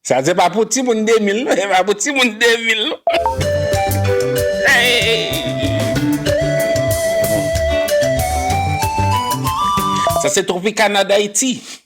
Sa se pa pou timoun 2000 non, se pa pou timoun 2000 non. Sa se Tropicana d'Haiti.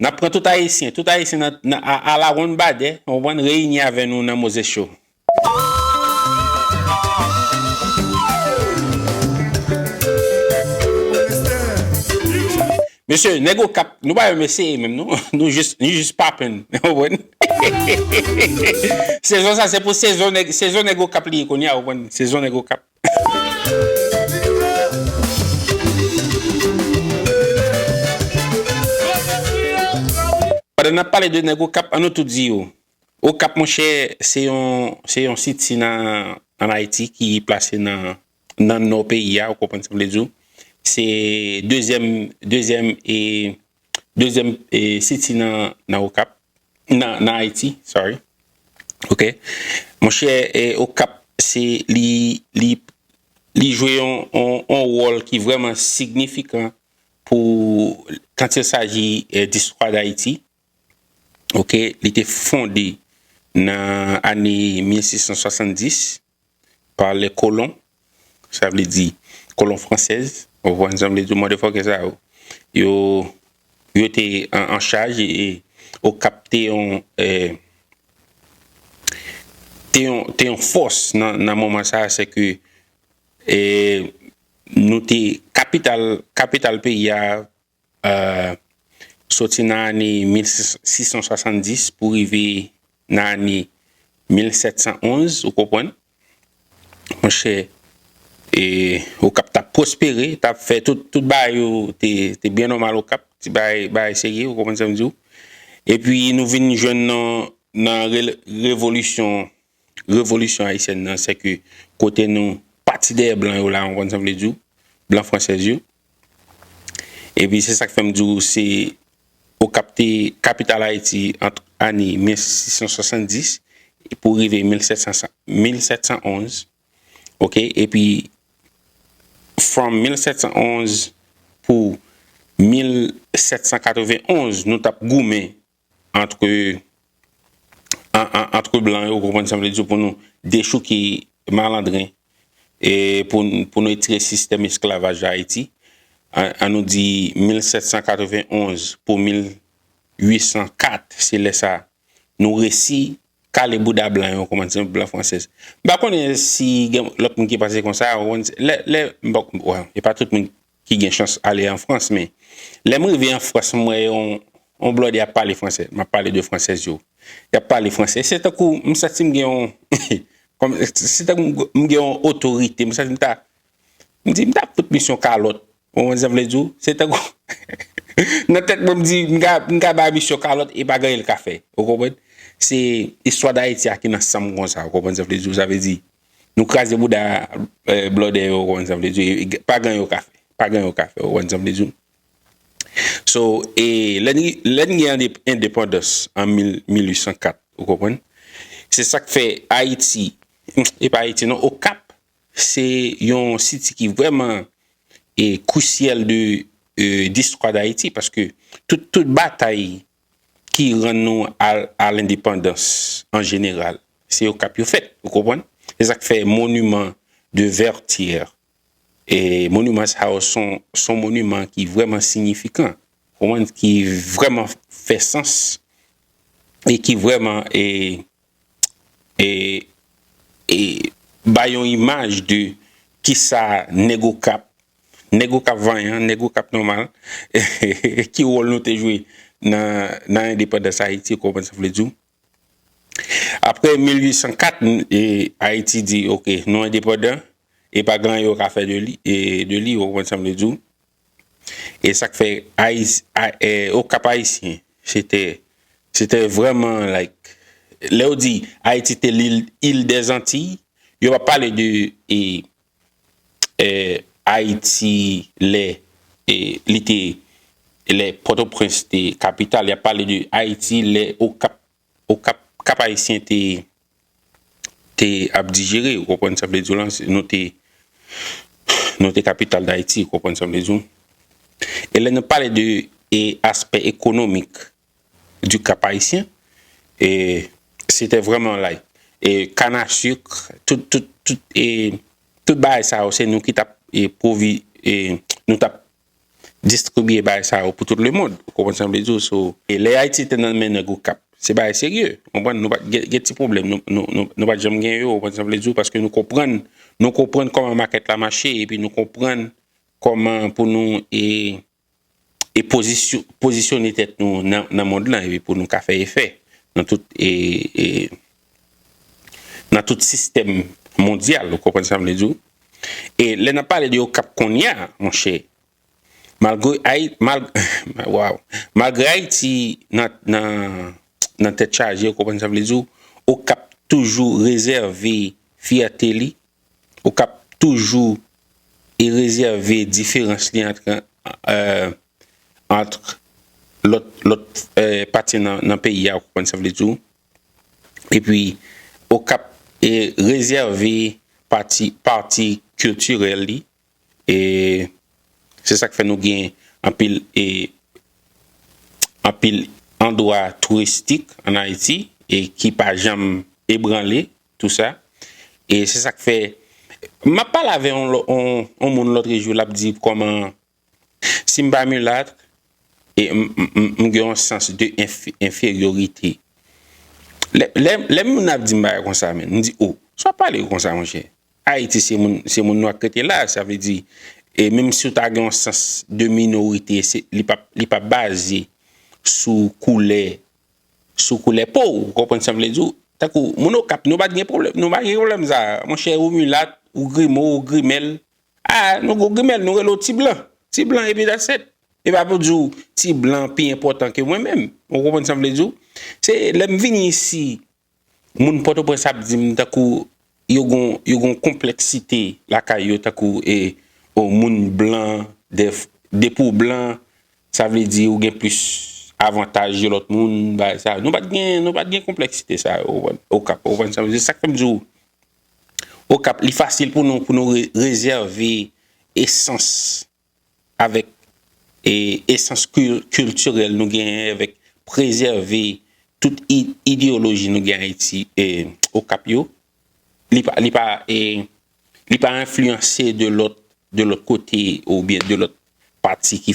N ap pran tout Ayisyen, tout Ayisyen nan a la wonn badè, ou konprann, reyini avè nou nan Moses Show. Mesye, nèg Okap, nou pa yon mesye menm non, nou jis, nou jis papenn, ou konprann. Sezon sa se pou sezon nèg, sezon nèg Okap li ye kounye a, ou konprann, sezon nèg Okap. Pandan nap pale de nèg okap an nou tout di yo okap monchè se yon se yon siti nan ayiti ki plase nan nan nò peyi a ou konprann sa m vle di w se dezyèm dezyèm e Dezyèm city nan okap nan ayiti sorry ok monchè okap se li li li jwe yon yon wòl ki vrèman signifikan pou kant il saji distwa dayiti ok li te fonde nan ane 1670 par les colons sa vle di kolon fransèz ou konprann sa m vle di mòdèfòkè sa yo yo yo te an chaj e okap te yon te yon te yon fòs nan moman sa se ke e nou te kapital kapital peyi a soti nan ane 1670 pou rive nan ane 1711, ou konprann, mwen chè, e ou kap tap pwospere, tap fè tout, tout ba yo te byen nòmal ou kap, ti ba yo, ba yo serye, ou konprann sa m di ou, epi nou vin jwenn nan, nan revolisyon. revolisyon ayisyèn nan se ke kote nou pati dèyè blan yo la ou konn sa m vle di w blan fransèz yo epi se sa k fè m di w se okap te kapital ayiti ant ane 1670 pou rive 1711 ok epi from 1711 pou 1791 nou t ap goumen antre antre blan yo ou konprann sam vle di pou nou dechouke malandren e pou nou etire sistèm esklavaj la ayiti an nou di 1791 pou 1804 se lè sa nou resi kale bouda blan yo konprann sam blan fransèz m pa konnen si gen lòt moun ki panse konsa lè lè m pa konnen e pa tout moun ki gen chans ale an Frans men lè m rive an Frans m wè yon yon blòdè ap pale fransè m ap pale de fransèz yo y ap pale fransè se tankou m santi m gen yon kòm se tankou m gen yon otorite m santi m ta m di m ta fout misyon kalòt ou konprann sa m vle di w se tankou nan tèt mwen m di m ka m ka ba misyon kalòt e pa gen anyen l ka fè ou konprann se istwa Dayiti a ki nan san m konsa ou konprann sa m vle di w sa vle di Nou kraze bouda blòdè yo ou konn sa m vle di w e pa gen yo ka fè, pa gen yo ka fè ou konn sa m vle di w. So e lè n lè n gen endepandans an 1804 ou konprann se sa k fè Ayiti e pa Ayiti non Okap se yon site ki vrèman e krisyèl de listwa Dayiti paske tout batay ki rann nou a lendepandans an jeneral, se Okap yo fèt. Ou konprann? Se sa k fè moniman de Vètyè, moniman sa yo son moniman ki vrèman siyifikan, ki vrèman fè sans e ki vrèman e e bay yon imaj de kisa nèg okap nèg okap vanyan nèg okap nòmal ki wòl nou te jwe nan nan endepandans ayiti ou konprann sa m vle di w aprè 1804 e ayiti di ok nou endepandan e pa gen anyen yo ka fè de li e de li ou konprann sa m vle di w E sak fè Okap Ayisyen se tè se tè vrèman like lè yo di Ayiti te lil il dè zantiy yo pa pale de e e Ayiti lè e li te lè Pòtoprens te kapital y ap pale de Ayiti lè Okap Okap kap ayisyen te te ap dijere ou konprann sa vle diw lan nou te nou te kapital dayiti ou konprann sa vle diw e lè nou pale de e aspè ekonomik di kap ayisyen e se te vreman lay e kann a suk tout tout tout e tout bagay sa yo se nou ki tap e pwovi e nou tap distribiye bagay sa yo pou tout lemond. Ou konprann sa m vle di w? So, e lè Ayiti te nan men nèg Okap, se bagay serye. Ou konprann? Nou pa t gen, gen ti pwoblèm nou, nou, nou, nou pa t janm gen yo. Ou konprann sa m vle di w? Paske nou konprann, nou konprann kòman makèt la mache epi nou konprann kòman pou nou e, e pozisy, pozisyone tèt nou nan, nan mond lan epi pou nou ka fè efè nan tout e, e. nan tout sistèm mondyal, ou konprann sa m vle di w. E lè n ap pale de Okap kounye a, monchè, malgre Ayi, mal, waw, malgre Ayiti nan, nan, nan tèt chaje, ou konprann sa m vle di w, Okap toujou rezève fyète li, Okap toujou e rezève diferans li antre, antre lòt, lòt pati nan peyi a, ou konprann sa m vle di w. epi Okap rezève pati pati kiltirèl li e se sak fè nou gen anpil e anpil andwa touristik an Ayiti e ki pa janm ebranle tou sa e se sak fè map pale avè yon yon moun lotrejou lap di kòman Si m pa milat, e m gen yon sans de enferyorite. Lè moun ap di m bagay konsa menn, m di, o, sa w ap pale konsa monchè? Ayiti se moun nwa k rete la, sa vle di, e menm si w ta gen yon sans de minorite, li pa baze sou koulè, sou koulè po w, ou konprann sa m vle di w? Tankou moun Okap, nou pa t gen pwoblèm sa a. Monchè, ou milat, ou grimo, ou grimèl, Ah nou gou grimèl nou rele w ti blan, ti blan epi that's it. Epa pou di w ti blan pi enpòtan ke mwen menm. Ou konprann sa m vle di w? Se lè m vini isi moun pòtoprens ap di m tankou yo gon yo gon konpleksite lakay yo tankou e o moun blan dèf depi w blan sa vle di ou gen plis avantaj yo lòt moun bagay sa. Nou pat gen nou pat gen konpleksite sa yo ou konprann? Okap ou konprann sa m vle di? Se sak fè m di w Okap li fasil pou nou pou nou rezève esans avèk esans kiltirèl nou genyen avèk prezève tout ideyoloji nou gen Ayiti Okap yo li pa enfliyanse de lòt kote oubyen de lòt pati ki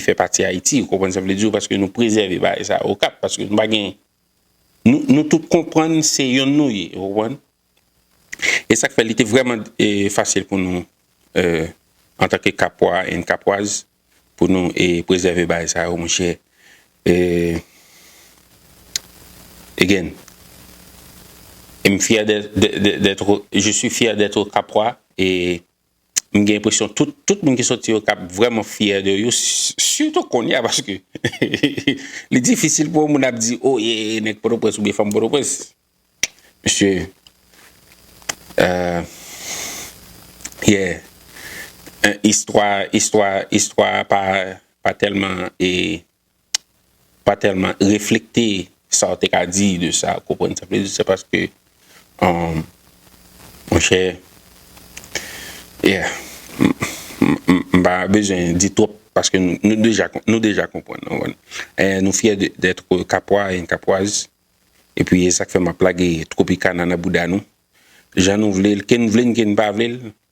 fè pati Ayiti ou konprann sa m vle di w paske nou prezève bagay sa Okap paske nou pa gen Nou tout konprann se yonn nou ye, ou konprann? E sa k fè li te vrèman fasil pou nou antanke Kapwa and Kapwaz pou nou prezève bagay sa yo, monchè. Again, m fyè dèt, je suis fier d'être Capois e. m gen enpresyon tout tout moun ki soti okap vrèman fyè de yo sitou konnya paske li difisil pou yon moun ap di oh ye nèg pòtoprens oubyen fanm pòtoprens mesye euh ye istwa istwa istwa pa pa tèlman e pa tèlman reflekte sa w te ka di de sa, ou konprann sa m vle di, se paske monchè yeah m pa bezwen di twòp paske nou deja konprann nou fyè dèt kapwa e kapwaz epi e sa k fè m ap lage Tropicana nan bouda nou jan nou vle l, ke n vle l ke n pa vle l.